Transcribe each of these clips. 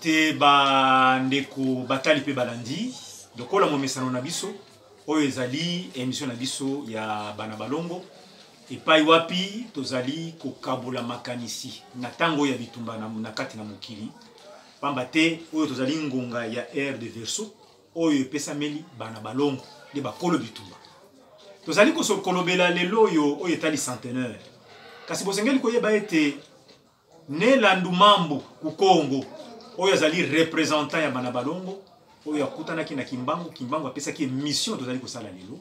te bandeko batali mpe balandi lokola momesano na biso oyo ezali emission na biso ya bana balongo epai wapi tozali kokabola makanisi na ntango ya bitumba na, na kati na mokili mpamba te oyo tozali ngonga ya aire de verso oyo epesameli bana balongo nde bakolo bitumba tozali kolobela lelo oyo oyo etali centenaire kasi bosengeli koyeba ete Ne Landu Mambu Kukongo oyo azali représentant ya bana balongo oyo akutanaki na Kimbangu, Kimbangu apesaki mission tozali kosala lelo.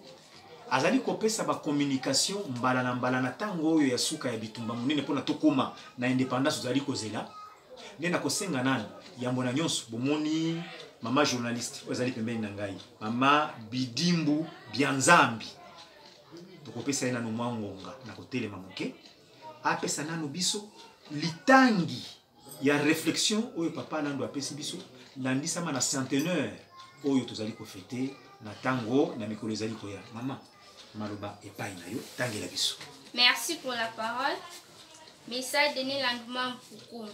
Azali kopesa ba communication mbala na mbala na tango oyo ya suka ya bitumba monene mpona tokoma na indépendance tozali kozela. Nde nakosenga nani yambo na nyonso bomoni mama journaliste oyo azali pembeni na ngai mama Bidimbu Bianzambi tokopesa ye nano mwa ngonga na kotelema moke apesa nano biso litangi ya réflexion oyo papa nando apesi biso landisama na centenaire oyo tozali kofete na ntango na mikolo ezali koya mama maloba epai na yo tangela biso merci pour la parole message denis landuma mpukumba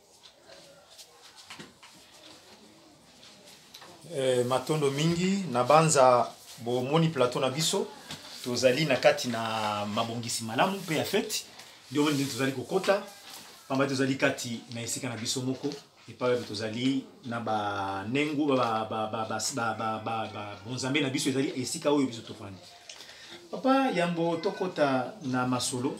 Eh, matondo mingi na banza bomoni plateau na biso tozali na kati na mabongisi malamu mpe ya feti ndio nde tozali kokota pamba tozali kati na esika na biso moko epai wapi tozali na banengo bonzambe na biso ezali esika oyo biso tofandi papa yambo tokota na masolo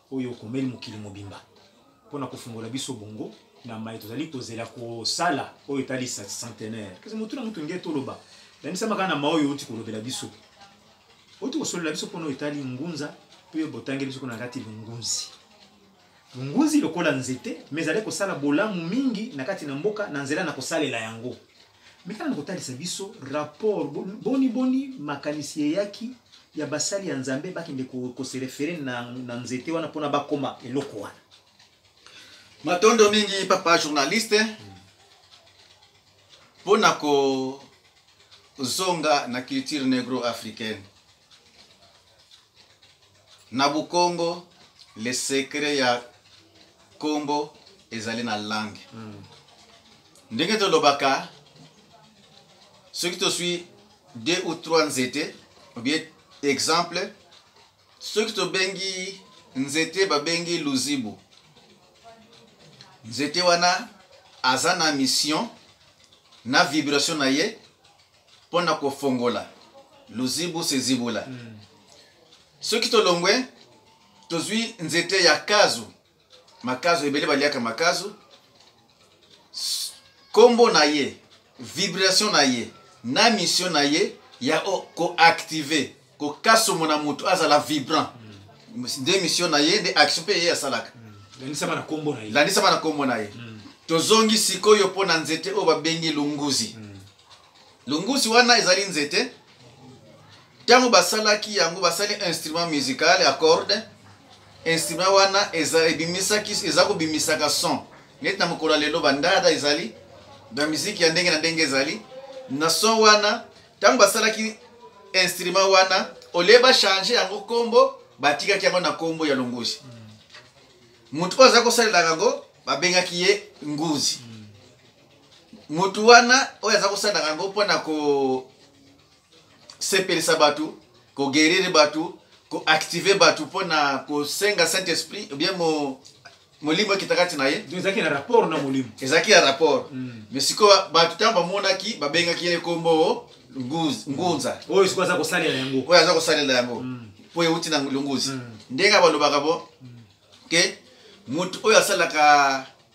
oyo okomeli mokili mobimba mpo na kofungola biso bongo na mai tozali kozela kosala oyo etali centenaire kasi motu na motu nge toloba landisama kaka na ma oyo outi kolobela biso outi kosolola biso mpona oyo etali ngunza mpe botangeli biso kuna na kati longunzi longunzi lokola nzete ma ezali kosala bolamu mingi na kati na mboka na nzela na kosalela yango Mais tala nakotalisa biso rapport bon- boni boni makanisi eyaki ya basali ya Nzambe bakende ko- ko se référer na, na nzete wana mpona bakoma eloko wana. matondo mingi papa journaliste mpo na kozonga na culture negro africaine Na Bukongo, le secret ya kombo ezali na langue. Mm. Ndenge tolobaka soki toswi deux ou trois nzete ou bien exemple soki tobengi nzete babengi luzibu nzete wana aza na mission na vibration na ye mpo na kofongola luzibu se zibula mm. soki tolongwe tozwi nzete ya kazu makazu ebele baliaka makazu nkombo na ye vibration na ye na mission na ye ya koactive kokasomo na moto azala vibrant mm. nde mission na ye nde action mpe ye asalaka mm. landisama na nkombo na ye landisama na nkombo na ye mm. tozongi sikoyo mpo na nzete oyo babengi lunguzi mm. Lunguzi wana ezali nzete. Ntango basalaki yango, basali instrument musical ya corde. Instrument wana eza ebimisaki eza kobimisaka son. Neti na mokolo ya lelo bandada ezali, ba miziki ya ndenge na ndenge ezali. Na son wana, ntango basalaki instrument wana, olie bachange yango nkombo, batikaki yango na nkombo ya longozi. Moto oyo azali kosalelaka yango, babengaki ye nguzi. motu wana oyo aza kosalaka yango mpo na kosepelisa bato kogerire bato koactive bato mpo na kosenga saint esprit obien mo, molimo ekita kati na ye ezalaki na rapport na molimo ezalaki ya rapport mm. mais sikoyo bato ntango bamonaki babengaki ye nkombo ngunza oyo sikoyo aza kosalela yango oyo aza kosalela yango mm. mpo mm. euti na longuzi mm. ndenge balobaka bo mm. ke motu oyo asalaka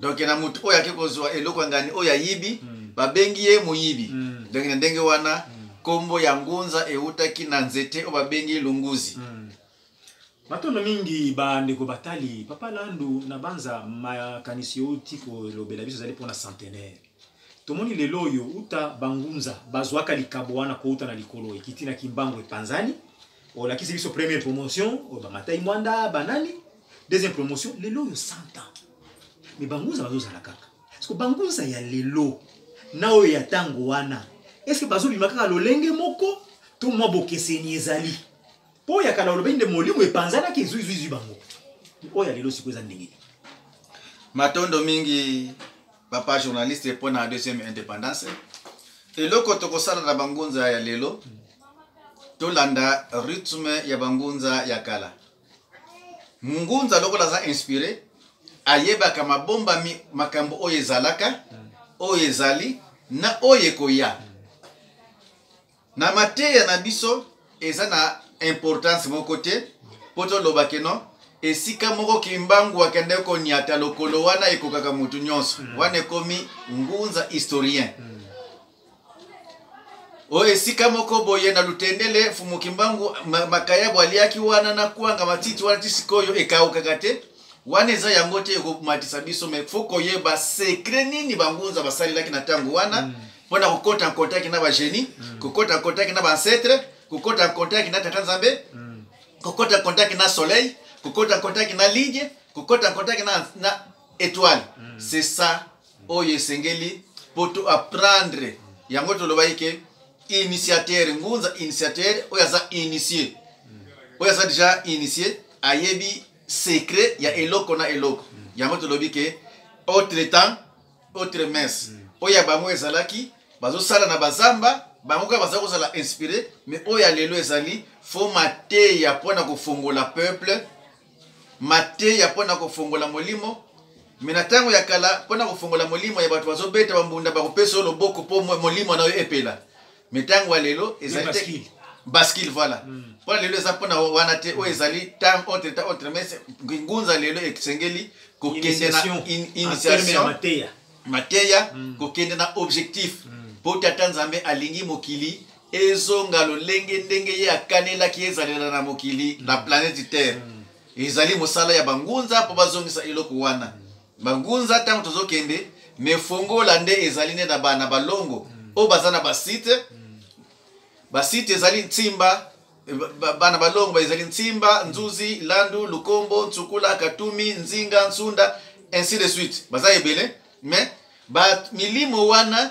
donk na motu oyo ake kozwa eloko ya ngani oyo ayibi mm. babengi ye moyibi mm. donk na ndenge wana mm. nkombo mm. ya ngunza eutaki na nzete oyo babengi lunguzi mm. matondo mingi bandeko batali papa landu na banza makanisi outi kolobela biso ezali mpona centenaire tomoni lelo oyo uta bangunza bazwaka likabo wana kouta na likolo ekiti na kimbangu epanzani olakisi biso première promotion oyo bamatai mwanda banani deuxième promotion lelo oyo 100 ans mais bangunza bazozala kaka parceke bangunza ya lelo na oyo ya ntango wana eske bazobima kaka lolenge moko to mwa bokeseni ezali mpo oyo ya kala olobeli nde molimo epanzanaki ezuizuizui bango oyo ya lelo siko eza ndenge nini matondo mingi papa journaliste mpo na deuxième indépendance eloko tokosala na bangunza ya lelo tolanda rythme ya bangunza ya kala ngunza lokola aza inspire ayebaka mabombami makambo oyo ezalaka oyo ezali na oyo ekoya na mateya na biso eza na importance moko te mpo toloba keno esika moko kimbangu akende konyata lokolo wana ekokaka motu nyonso hmm. wana ekomi ngunza historien mm. oyo esika moko boye na lutendele mfumu kimbangu ma- makayabo aliaki wana na kwanga matiti wana ti sikoyo ekaukaka te wana eza yango te ekomatisa biso me fo koyeba sekre nini bangunza basalelaki na ntango wana mpo na kokota nkontaki na bagenie kokota nkontaki na bancetre kokota nkontaki na tata nzambe kokota kontaki na soleil kokota kontaki na ligne kokota kontaki na, na étoile c'est ça oyo esengeli mpo to apprendre yango tolobaki ke initiateur ngunza initiateur oyo aza initie oyo aza deja initie ayebi secret ya eloko na eloko yango tolobi ke autre temps autre mens oyo ya bango ezalaki bazosala na bazamba bango kaka baza kozala inspire mais oyo ya lelo ezali fo mateya mpo na kofongola peuple mateya mpo na kofongola molimo me na ntango ya kala mpo na kofongola molimo ya bato bazobeta bambunda bakopesa yo loboko mpo molimo na yo epela me ntango ya lelo ezali te baskile voilà hmm. mpo na lelo eza mpo na wana te oyo ezali tam autre ta autre mais ngunza lelo esengeli kokende na initiation mateya hmm. kokende na objectif mpo hmm. tata nzambe alingi mokili ezonga lolenge ndenge ye akanelaki ezalela na mokili na planeti terre ezali mosala ya bangunza mpo bazongisa eloko wana bangunza ntango tozokende mefongola nde ezali nde na bana balongo oyo baza na basite basite ezali ntimba bana balongo bazali ntimba nzuzi landu lukombo nsukula katumi nzinga nsunda ainsi de suite baza ebele mais milimo wana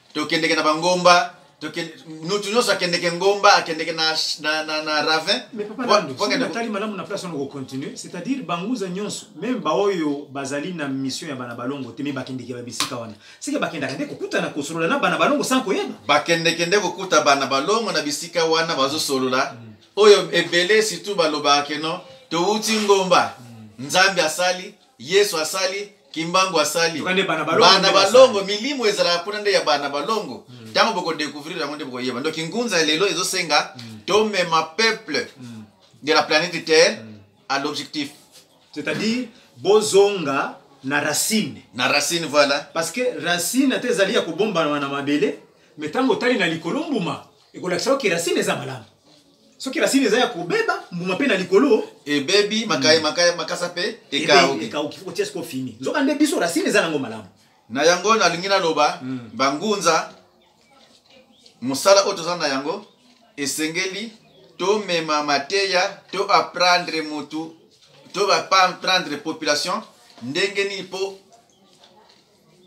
tokendeke na bangomba mutu nyonso akendeke ngomba akendeke na, na, na, na ravin atali malamu na place wana kocontinue c'est-à-dire banguza nyonso meme baoyo bazali na mission ya bana balongo te me bakendeke babisika wana seke bakendaka nde kokutana kosolola na bana balongo sans koyeba bakendeke nde kokuta bana balongo na bisika wana bazosolola mm. oyo ebele surtout balobaka keno towuti ngomba mm. nzambe asali Yesu asali, Kimbangu asali. Toka nde bana balongo Bana nde basali. balongo milimo ezalaka kuna nde ya bana balongo. Tango boko découvrir yango nde bokoyeba. Donc ngunza ya lelo ezosenga tomema peuple de la planète Terre à l'objectif c'est-à-dire bozonga na racine na racine voilà. parce que racine ata ezali ya kobombana na mabele mais ntango otali na likolo mbuma ekolakisa yo ke racine eza malamu soki rasini eza ya kobeba mbuma mpe na likolo ebebi makaya makaya makasa mpe ekauki ekauki otia siko fini nzoka nde biso rasini eza nango malamu na yango nalingi naloba hmm. bangunza mosala oyo toza na yango esengeli tomema mateya to aprendre motu to baprendre population ndenge nini mpo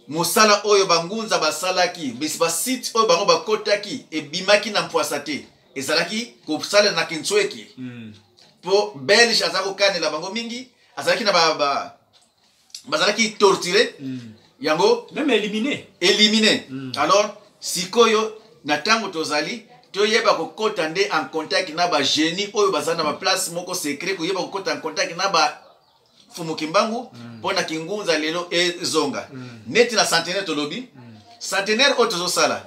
mosala oyo bangunza basalaki basite oyo bango bakotaki ebimaki na mpwasa te ezalaki kosalela na kinsueki mm. mpo belge aza kokanela bango mingi azalaki na ba, ba, bazalaki torture mm. yango meme élimine élimine mm. alors sikoyo na ntango tozali toyeba kokota nde en contact na bagenie oyo baza na baplace moko secret koyeba kokota en contact na ba fumu kimbangu mm. mpo mm. na kingunza lelo ezonga mm. neti na centenaire tolobi mm. centenaire oyo tozosala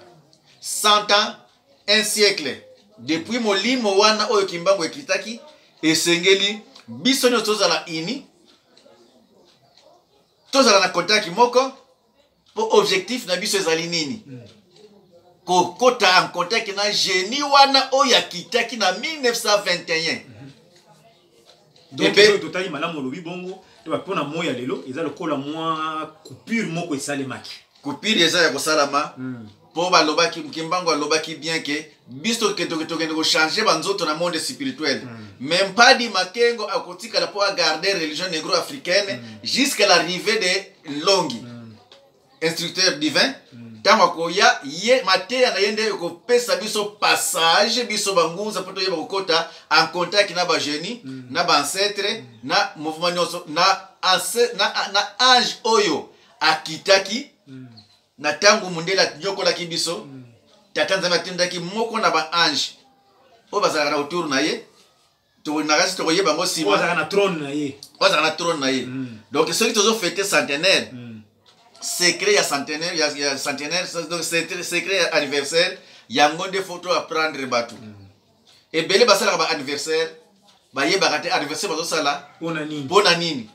100 ans un siècle depuis molimo wana oyo kimbangu ekitaki esengeli biso nyonso tozala ini tozala na kontaki moko mpo objectif na biso ezali nini mm. kokota en contact na genie wana oyo akitaki na 1921 ebe totali malamu olobi bongo mpo na moi ya lelo eza lokola mwa coupure moko esalemaki coupure eza ya kosalama hmm. mpo balobaki kimbangu alobaki bien ke biso tokende kochange banzoto na monde spirituel hmm. mais mpadi makengo akotikala mpo agarde religion negro africaine hmm. jusqu'à l'arrivée de longi instructeur divin ntango akoya ye mateya na ye nde ekopesa biso passage biso bangunza mpo toyeba kokota en contact na bagenie mm. na baancetre mm. na mouvement nyonso na, na, na ange oyo akitaki mm. na ntango mondele anyokolaki biso mm. tata nzambe atindaki moko na baange oyo bazalaka na autour na ye tokolinakasi tokoyeba yango nsima ozalaka na trone na ye ozalaka na trone na ye mm. donc soki tozofete centenaire mm. secret ya centenaire ya, ya centenaire donc secret ya anniversaire yango nde fo to apprendre bato mm. ebele basalaka ba anniversaire bayebaka te anniversaire bazosala mpo na nini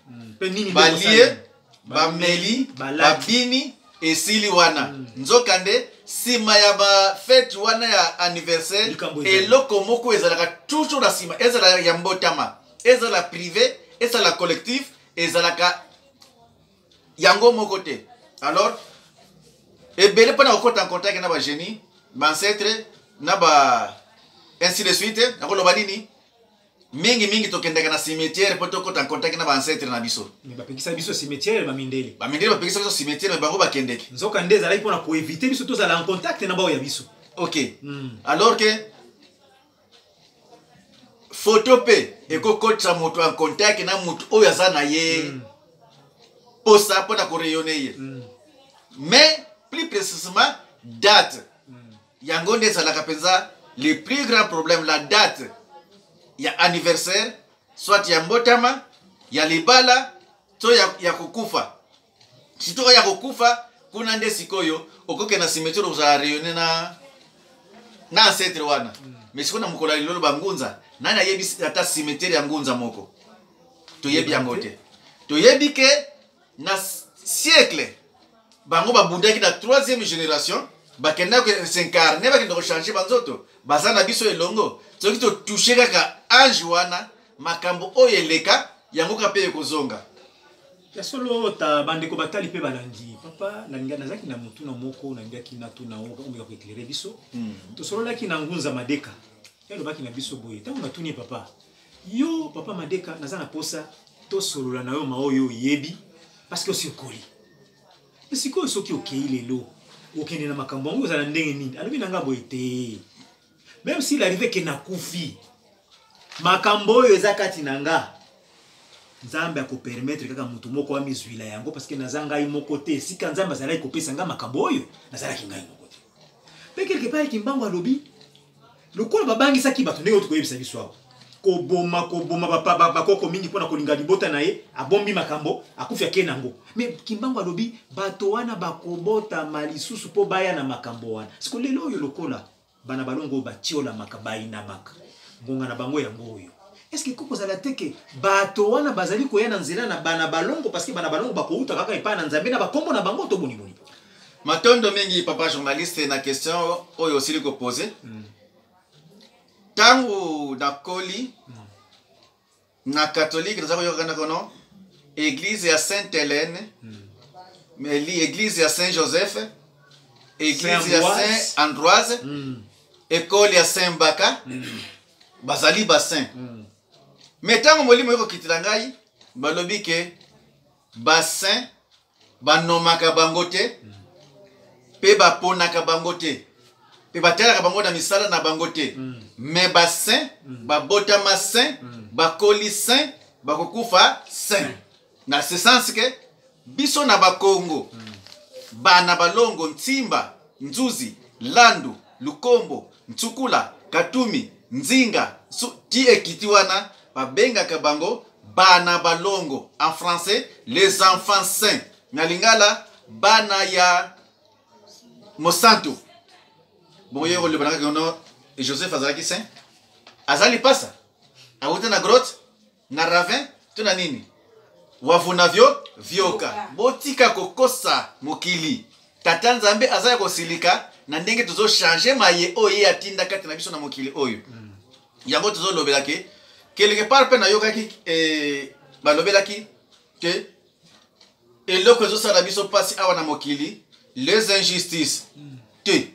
balie bameli babini esili wana hmm. nzokande nsima ya bafete wana ya anniversaire eloko moko ezalaka toujours na nsima ezala ya mbotama ezala prive ezala collectif ezalaka yango moko te alors ebele mpo na kokota en contact na bagenie bancetre na ba ainsi de suite nakoloba nini mingi mingi tokendaka na cimetière mpo tokota nkontaki na baancetre na biso me bapekisa biso cimetière bamindele bamindele bapekisa biso cimetière me bango bakendeke nzoka nde ezalaki mpona koevite biso tozala en contact na baoyo ya biso ok mm. alors ke foto mpe ekokotisa moto en contact na moto oyo aza na ye mm. posa mpo na koreyone ye mm. mais plus précisement date yango nde ezalaka mpenza le plus grand problème la date ya anniversaire soit ya mbotama ya libala to ya, ya kokufa surtout oyo ya kokufa kuna nde sikoyo okoke na cimetiere kozala rayonne na na ancetre wana mm. mais sikoyo na mokolo ya lilolo bangunza nani ayebi ata cimetiere ya ngunza moko toyebi yango te toyebi ke na siècle bango babundaki na troisième génération bakendaki kosincarne bakenda kochange banzoto baza na biso elongo soki totouche kaka ange wana makambo oyo eleka yango kaka mpe ekozonga ya solo ta bandeko batali mpe balandi papa nalinga nazalaki na motuna moko nalingaki natuna omeka koeklere biso hmm. tosololaki na ngunza madeka Ye alobaki na biso boye, ntango natuni ye, papa, yo papa Madeka, naza na posa tosolola na yo maoyo oyebi, parce que osi okoli. Mpe sikoyo soki okei lelo okende na makambo yango ozala ndenge nini? Alobi na ngai boye te, meme s'il arrive ke nakufi, makambo oyo eza kati na nga nzambe akopermetre kaka moto moko amizwila yango parce que naza ngai moko te esika nzambe azalaki kopesa ngai makambo oyo nazalaki ngai moko te mpe quelque part kimbangu alobi lokola babangisaki bato ndenge oyo koyebisa biso awa koboma koboma bakoko mingi mpo na kolinga libota na ye abombi makambo akufi ake nango me kimbangu alobi bato wana bakobotama lisusu mpo baya na makambo wana siko lelo oyo lokola bana balongo oyo batiolamaka bayinamaka ngonga na bango yango oyo eske ekoki kozala te ke bato wana bazali koya na nzela na bana balongo parceke bana balongo bakowuta kaka epai na nzambe na bakombo na bango to boniboni matondo mingi papa journaliste na question oyo osili kopose ntango mm. nakoli mm. na katolike naza koyoka na kono eglize ya sainte helene mm. eglize ya saint joseph eglize ya saint androise mm. ekole ya saint baka mm. bazali basaint mm. me ntango molimo ekokitela ngai balobi ke basaint banomaka bango te mpe baponaka bango te mpe batalaka bango na misala na bango te me basin babotama sin bakoli sin bakokufa sin na ce sens ke biso na bakongo bana balongo ntimba nzuzi landu lukombo Nsukula, Katumi, Nzinga, Nsu, ti ekiti wana babengaka bango bana balongo, en français les enfants saints, na lingala bana ya mosantu. Boye koloba na kaka Joseph azalaki saint, azali pasa, awuta na grotte na ravin to na nini wavunavyo vyoka botika kokosa mokili tata nzambe aza ya kosilika na ndenge tozochange maye oyo ye atinda kati na biso na mokili oyo mm. yango tozolobela ke quelque part mpe nayokaki eh, balobelaki ke eloko ezosala biso mpasi awa na mokili les injustices mm. te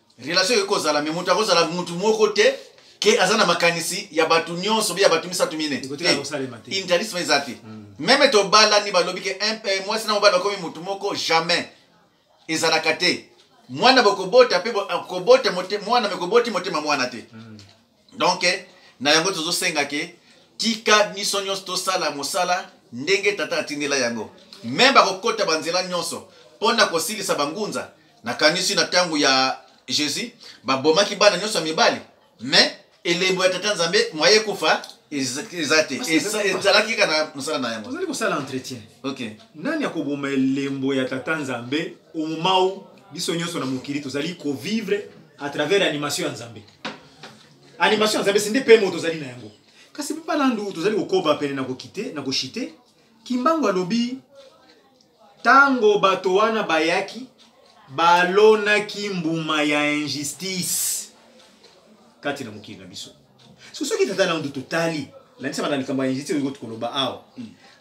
relation ekoki kozala me moto akozala motu moko te ke aza na makanisi ya bato nyonso be ya bato misato mine intarisme eza te hmm. meme tobalani balobi ke eh, mwasi na mobali bakomi motu moko jamais ezalaka te mwana bokobota mpe kobota mwana mekoboti motema mwana te hmm. donc na yango tozosenga ke tika biso nyonso tosala mosala ndenge tata atindela yango me bakokota banzela nyonso mpo na kosilisa bangunza nakanisi na ntango ya jésus babomaki bana nyonso ya mibali me elembo ya tata nzambe mwa ye kufa eza te ezalaki kaka na mosala na yango ozali kosala entretien ok nani akoboma elembo ya tata nzambe omau biso nyonso na mokili tozali kovivre à travers animation ya nzambe animation ya zabesi nde pmo tozali na yango kasi papa landu tozali kokoba pene na kokite na koshite kimbangu alobi ntango bato wana bayaki balonaki mbuma ya injustice kati na mokili na biso so soki tata landu totali landisama na likambo ya injustice oyo koti koloba awa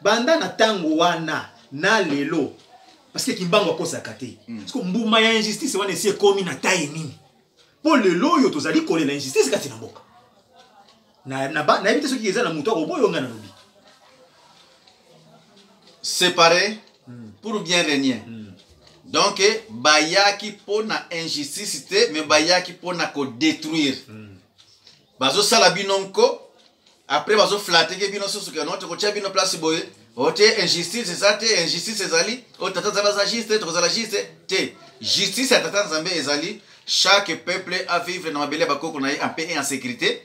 banda na ntango wana na lelo parce que kimbangu akosaka te siko mbuma ya injustice wana esi ekomi na taye nini mpo lelo oyo tozali kolela injustice kati na mboka nayebi te soki eza na moto akoboyo ngai nalobi séparé hmm. pour bien régner hmm. donc bayaki mpo na injustice te mais bayaki mpo na kodétruire hmm. bazosala bino nko après bazoflateke bino susu ke note kotya bino place boye ote oh, injustice eza te injustice ezali o oh, tata nzambe aza juste tokozala juste te justice ya tata nzambe ezali chaque peuple a vivre na mabele ya bakoko na ye en paix et en sécurité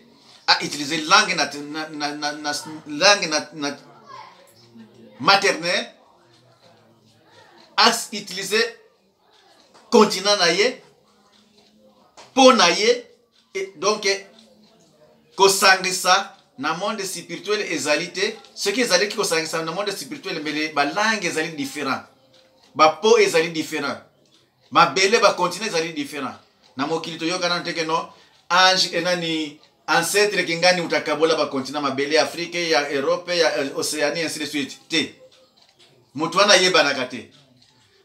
a utiliser langue na, na, na, na, na, langue na, na maternelle a utiliser continent na ye mpo na ye donc kosangisa na monde spirituel ezali te soki ezalaki kosangisa na monde spirituel mbele balangue ezali différent bapo ezali différent mabele bacontinent ezali différent na mokili toyokana te ke no ange enani ancetre kingani utakabola bacontinent mabele ya afrike ya europe ya euh, océanie ainsi de suite te moto wana ayebanaka te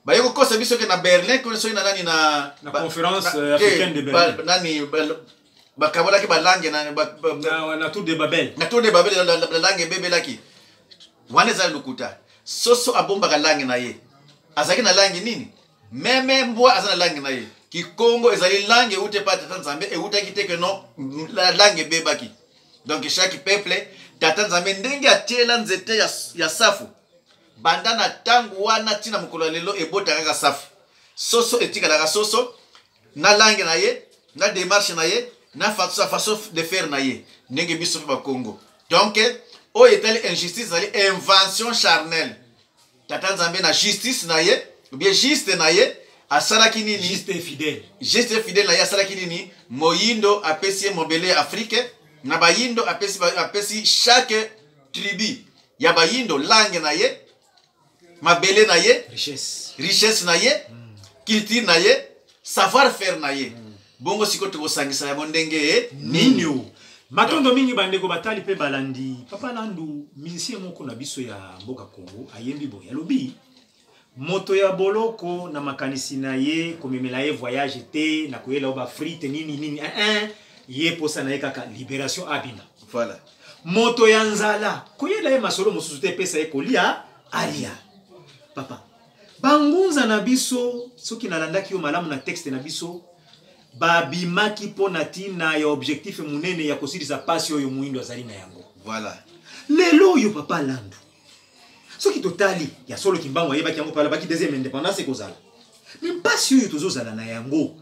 baye kokosa biso ke na berlin koni soki na nani na na conférence euh, africaine de berlin nani bakabolaki balange na na tour de babel na tour de babel lange ebebelaki wana ezali lokuta soso abombaka lange na ye azalaki na lange nini meme mbwa aza na lange na ye kikongo ezali lange euti epai tata nzambe eutaki te ke non lange ebebaki donc chaque peuple tata nzambe ndenge atiela nzete ya, ya safu banda na ntango wana ti na mokolo ya lelo ebota kaka safu soso etikalaka soso na langue na ye na démarche na ye na sa façon de faire na ye ndenge biso mpe bakongo donc oyo etali injustice ezali invention charnelle tata nzambe na justice na ye obie juste na ye asalaki nini juste fidèle juste fidèle na ye asalaki nini moyindo apesi ye mobele ya afrike na bayindo apesi, apesi chaque tribu ya bayindo langue na ye mabele na ye richesse, richesse na ye mm. culture na ye savoir faire na ye mm. bongo sikoyo tokosangisa yango ndenge nini mm. matondo mingi bandeko batali mpe balandi papa landu musicien moko na biso ya mboka congo ayembi boye alobi moto ya boloko na makanisi na ye komemela ye voyage te na koyela yo bafrite nini nini eh, eh. ye mposa na ye kaka liberation abima voilà. moto ya nzala koyela ye masolo mosusu te epesa ye kolia alia papa bangunza na biso soki nalandaki yo malamu na texte na biso babimaki mpo na ntina ya objectif monene ya kosilisa mpasi oyo moindo azali na yango voilà. lelo oyo papa landu soki totali ya solo kimbangu ayebaki yango mpe alobaki deuxième indépendance ekozala me mpasi oyo tozozala na yango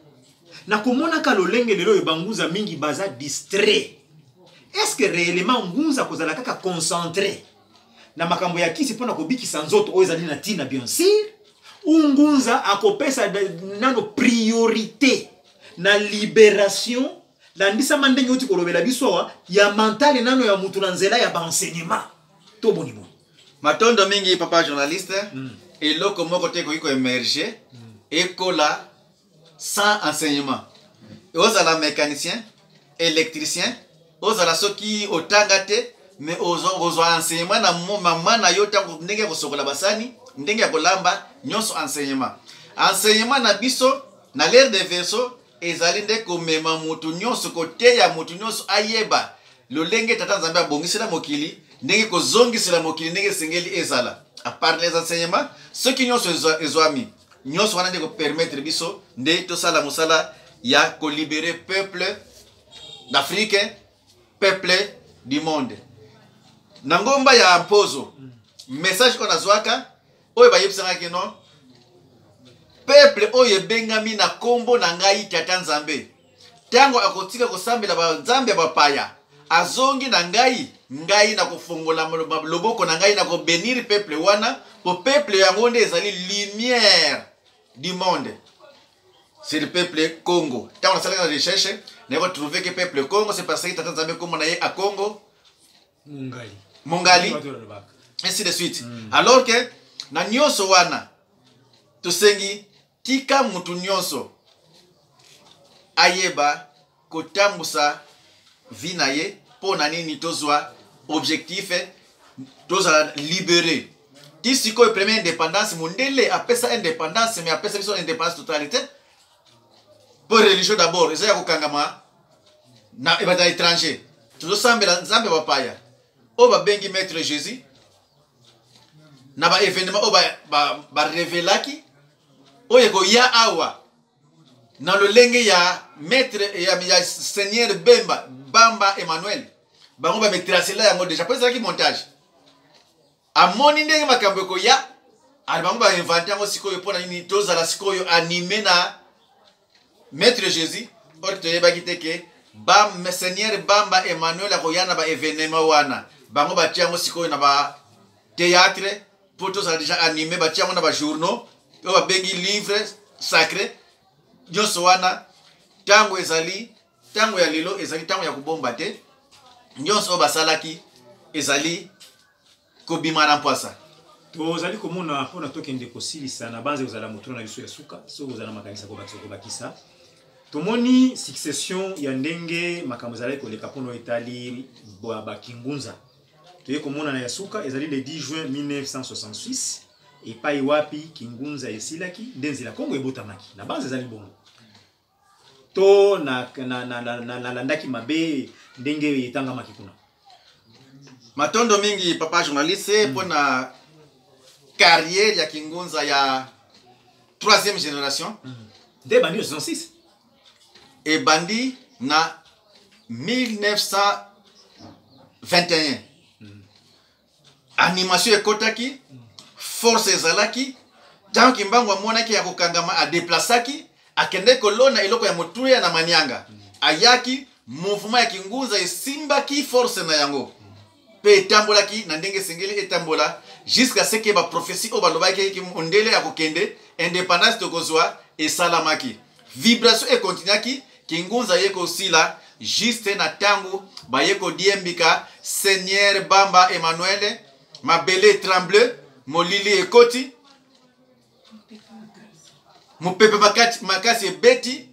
na komonaka lolenge lelo oyo bangunza mingi baza distrait est-ce que réellement ngunza akozala kaka concentré na makambo ya kisi mpo na kobikisa nzoto oyo ezali na ntina bien sûr ou ngunza akopesa da- nano priorité na libération landisama ndenge oti kolobela biso awa ya mentale nano ya moto na nzela ya baenseignement to boni boni matondo mingi papa journaliste mm. eloko moko te ekoki koemerge mm. ekola sans enseignement ozala mécanicien électricien ozala soki otanga te mais ozwa enseignement na mama na yo ntango ndenge ya kosokola basani ndenge ya kolamba nyonso enseignement enseignement na biso na l'ère de verso ezali nde komema moto nyonso koteya moto nyonso ayeba lolenge tata nzambe abongisela mokili ndenge kozongisela mokili ndenge esengeli ezala apart les enseignements soki nyonso ezwami nyonso wana nde kopermettre biso nde tosala mosala ya kolibere peuple d'afrique peuple du monde na ngomba ya mpozo message oyo nazwaka oyo bayebisaka ke non peple oyo ebengami na nkombo na ngai tata nzambe ntango akotika kosambela banzambe ya bapaya azongi na ngai ngai nakofongola loboko na ngai nakobenire peple wana mpo peple yango nde ezali lumière du monde c'est le peuple congo ntango nasalaki na recherche naye kotrouve ke peuple congo c'est parce que tata nzambe nkombo na ye a congo mongali mongali ainsi de suite mm. alors que na nyonso wana tosengi tika motu nyonso ayeba kotambusa vi na ye mpo na nini tozwa objectif tozala libere ti sikoyo premier indépendance mondele apesa indépendance mais apesa biso indépendance totalité mpo religion d'abord eza ya kokangama na ebata eh, étranger tozosambela nzambe bapaya oyo babengi maître jésus na baévénement oyo barevelaki ba, ba oyo ekoya awa na lolenge ya maître ya, ya seigneur bemba bamba emmanuel bango bametrasela yango déjà mpo ezalaki montage amoni ndenge makambo ekoya ali bango bainvente yango sikoyo mpo na nini tozala sikoyo anime na maître jésus oyo toyebaki te ke seigneur bamba emmanuel akoya na baevenema wana bango batia yango sikoyo na bateatre mpo tozala deja anime batia yango na bajournaux oyo babengi livre sacré nyonso wana ntango ezali ntango ya lelo ezali ntango ya kobomba te nyonso oyo basalaki ezali kobima na mpwasa tozali komona mpona tokende kosilisa na banze kozala motuna na biso ya suka soki kozala makanisa kobakisa kobakisa tomoni succession ya ndenge makambo ezalaki koleka mpona etali bakingunza toye komonana ya suka ezali le 10 juin 1966 epai wapi kingunza esilaki nde nzela kongo ebotamaki na banze ezali bongo to nalandaki na, na, na, na, na, nalandaki mabe ndenge etangamaki kuna matondo mingi papa journaliste mpo na carrière ya kingunza ya troisième génération nde ebandi na 66 ebandi na 1921 animation ekotaki force ezalaki ntango kimbangu amonaki ya kokangama adeplasaki akendeki kolona eloko ya motuya na manianga ayaki mouvement ya kingunza esimbaki force na yango mpe etambolaki na ndenge esengeli etambola jusqu'à ce que baprophesie oyo balobaki mondele ya kokende indépendance tokozwa esalamaki vibration ekontinuaki Kingunza ye kosila juste na tango baye kodiembika Seigneur Bamba Emmanuel, mabele etremble, molili ekoti, mopepe makati- makasi ebeti,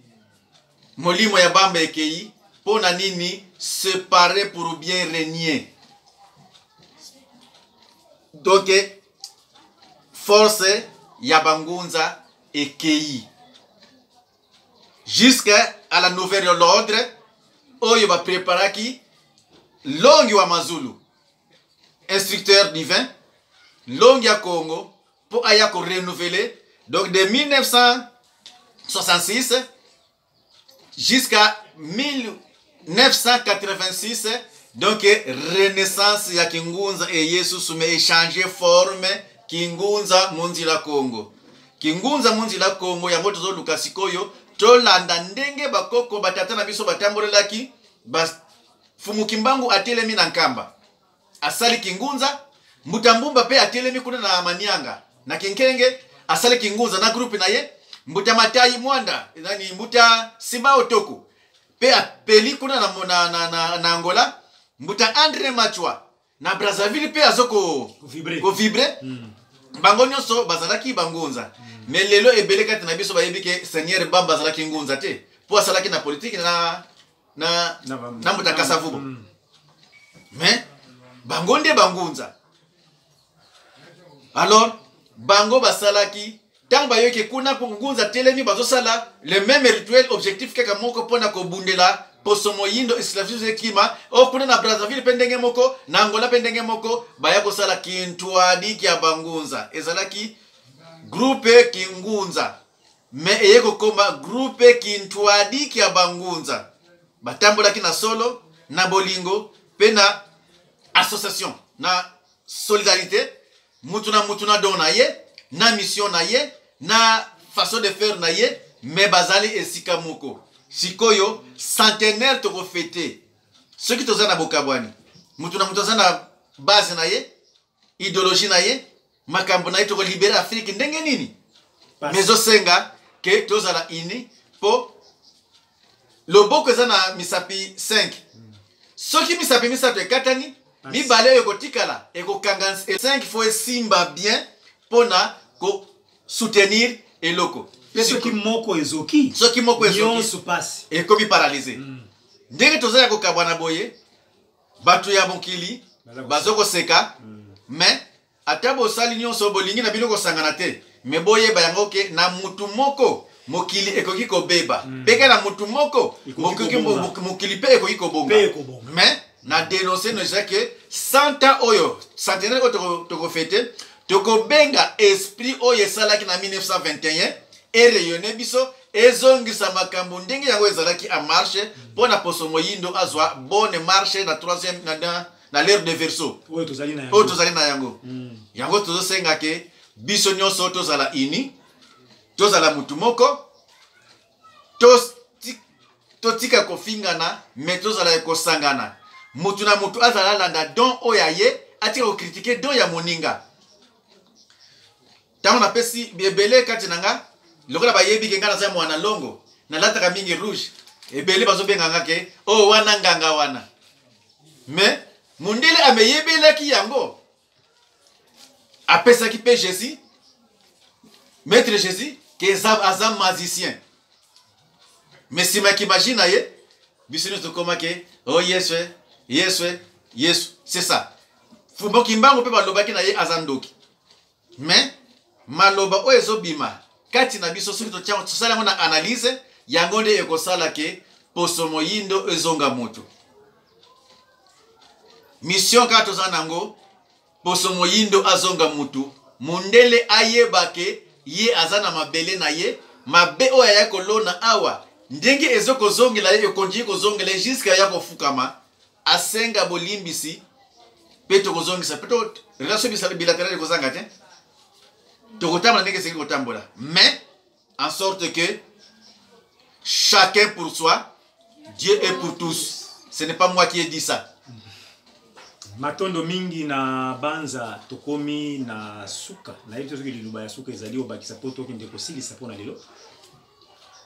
molimo ya Bamba ekei. Mpo na nini separe pour bien regner? Donc force ya bangunza ekei. jusqu'à à la nouvelle l'ordre oyo bapreparaki longi wa mazulu instructeur divin longi ya congo mpo aya korenouveler donc de 1966 jusqu'à 1000 986 donc renaissance ya kingunza eye susu me echange forme kingunza monzila congo kingunza monzila congo yango tozoluka sikoyo tolanda ndenge bakoko batata na biso batambolelaki bafumu kimbangu atelemi na nkamba asali kingunza mbutambumba mpe atelemi kuna na manianga na kinkenge asali kingunza na grupe na ye mbuta matai mwanda nani mbuta simao toko mpe apeli kuna na, na, na, na, na angola mbuta andre machwa na brazzaville mpe azo kovibre ko mm. bango nyonso bazalaki bangunza mm. me lelo ebele kati na biso bayebi ke seigneur bamba azalaki ngunza te mpo asalaki na politike na, na, na, na mbuta kasavubo mm. me bango nde bangunza alors bango basalaki ntango bayoki kuna mpo ngunza telemi bazosala le meme rituel objectif kaka moko mpo na kobundela poso moyindo esclavisme ekima o kuna na brazzaville mpe ndenge moko na angola mpe ndenge moko baya kosala kintuadi kya bangunza ezalaki groupe kingunza me eye kokoma groupe kintuadi kya bangunza batambolaki na solo na bolingo mpe na association na solidarité mutu na mutu na don na ye na mission na ye na façon de faire na ye me bazali esika moko sikoyo centenaire tokofete soki toza na bokabwani mutu na mutu aza na base na ye ideologie na ye makambo na ye tokolibere afrike ndenge nini me ezosenga ke tozala uni mpo loboko eza na misapi 5 soki misapi misato ekatani mibale oyo ekotikala ekokanga 5 fo esimba bien mpo na kosoutenir eloko mpe soki moko ezoki soki moko ezonso mpasi ekomi paralize mm. ndenge toza ya kokabwana boye bato ya mokili bazo koseka mm. mais Ata bosali nionso bolingi na bino kosangana te mais boyeba yango ke na mutu moko mokili ekoki kobeba mm. pe ke na mutu moko mokili pe ekoki kobonga mais na denonse no eza ke santa oyo centenaire oyo tokofete tokobenga esprit oyo esalaki na 1921 ereyone biso ezongisa makambo ndenge yango ezalaki en marche mpo na poso moyindo azwa bonne marche na 3e na, na na l'heure de verso oyo tozali na yango, oyo tozali na yango. Mm. yango tozosenga ke biso nyonso tozala ini tozala motu moko totika to kofingana me tozala kosangana motu na motu azala alanda don oyo aye atika kokritike don ya moninga ntango napesi ebele kati na nga lokola bayebi ke ngai naza mwana longo nalataka mingi rouge ebele bazobenga nga ke o oh, wana nganga wana mais mondele ameyebelaki yango apesaki mpe jésus maître jésus ke aza magicien mais nsima ya kimaji na ye biso nyonso tokoma ke o oh, yesu yesu yesu c'est ça fumbo kimbangu mpe balobaki na ye aza ndoki mais maloba oyo ezobima kati na biso soki tosali yango na analyse yango nde ekosala ke poso moyindo ezonga moto mission kaka toza nango poso moyindo azonga mutu mundele ayeba ke ye aza na mabele na ye mabe oyo ayaki kolona awa ndenge ezokozongela ye ekonjii kozongela ye juske aya kofukama asenga bolimbisi mpe tokozongisa mpe relation bisala bilateral ekozanga te tokotambola ndenge esengeli kotambola mais en sorte que chacun pour soi dieu est pour tous ce n'est pas moi qui ai dit ça matondo mingi na banza tokomi na suka nayebi te soki liloba ya suka ezali obakisa mpo tokende kosilisa mpo na lelo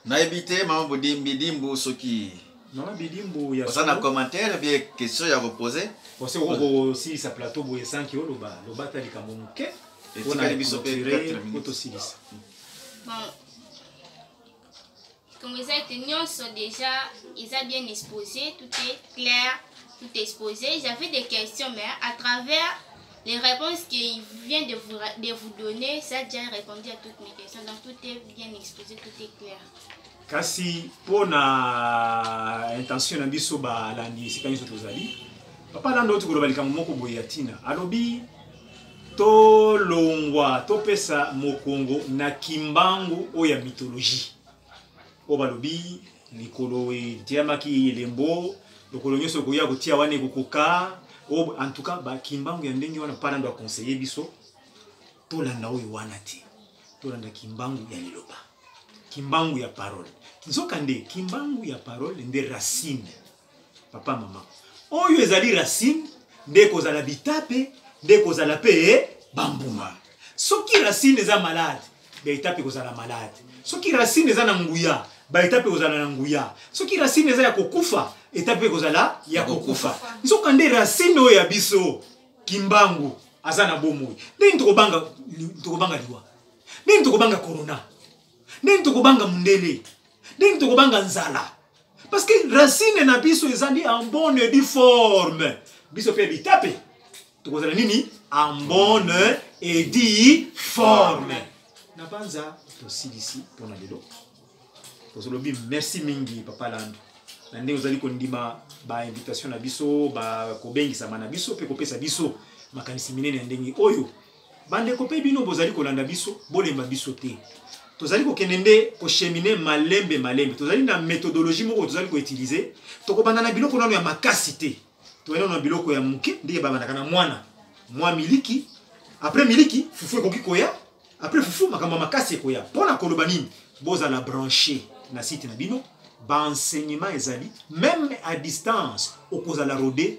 nayebi te mama bidimbu soki mama bidimbu oza na commentaire bie question ya kopose ose okosilisa plateau boye sanki oloba loba ata likambo moke etikali biso mpe 4 minutes tosilisa comme eza ete nyonso déjà eza bien exposé tout est clair tout exposé j'avais des questions mais à travers Les réponses qu'il vient de vous, de vous donner, ça a déjà répondu à toutes mes questions. Donc tout est bien exposé, tout est clair. kasi mpo na intention na biso balandi esika nyonso tozali papa landa oti koloba likambo moko boye ya ntina alobi tolongwa topesa mokongo na kimbangu oyo ya mythologie oyo balobi likolo etiyamaki elembo lokolo nyonso okoya kotia wana ekokoka oyo en tout cas bakimbangu ya ndenge wana mpana ndo aconseille biso tolanda oyo wana te tolanda kimbangu ya liloba kimbangu ya parole nzokande kimbangu ya parole nde racine papa mama oyo ezali racine nde ekozala bitape nde ekozala mpe bambuma soki racine eza malade baetape ekozala malade soki racine eza na nguya baetape ekozala na nguya soki racine eza ya kokufa etape ekozala ya kokufa nzoka nde racine oyo ya biso kimbangu aza na bomoi ndeni tokobanga tokobanga liwa ndeni tokobanga corona ndeni tokobanga mondele ndeni tokobanga nzala parce que racine na biso ezali en bonne et due forme biso mpe bitape tokozala nini en bonne et due forme na banza tosilisi mpo na lelo tozolobi merci mingi papa lando na ndenge ozali kondima bainvitation na biso bakobengisama na biso mpe kopesa biso makanisi minene ya ndenge oyo Bandeko mpe bino bozali kolanda biso, bolemba biso te. Tozali kokende nde kochemine malembe malembe. Tozali na methodologie moko tozali koutilize. Tokobanda na biloko nano ya makasi te. Toyei na biloko ya moke ndenge babandaka na mwana. Mwa miliki, après miliki, fufu ekoki koya. Après fufu, makambo ya makasi ekoya. Mpo na koloba nini? Bozala branche na site na bino. Ba enseignement ezali, meme à distance, okozala rode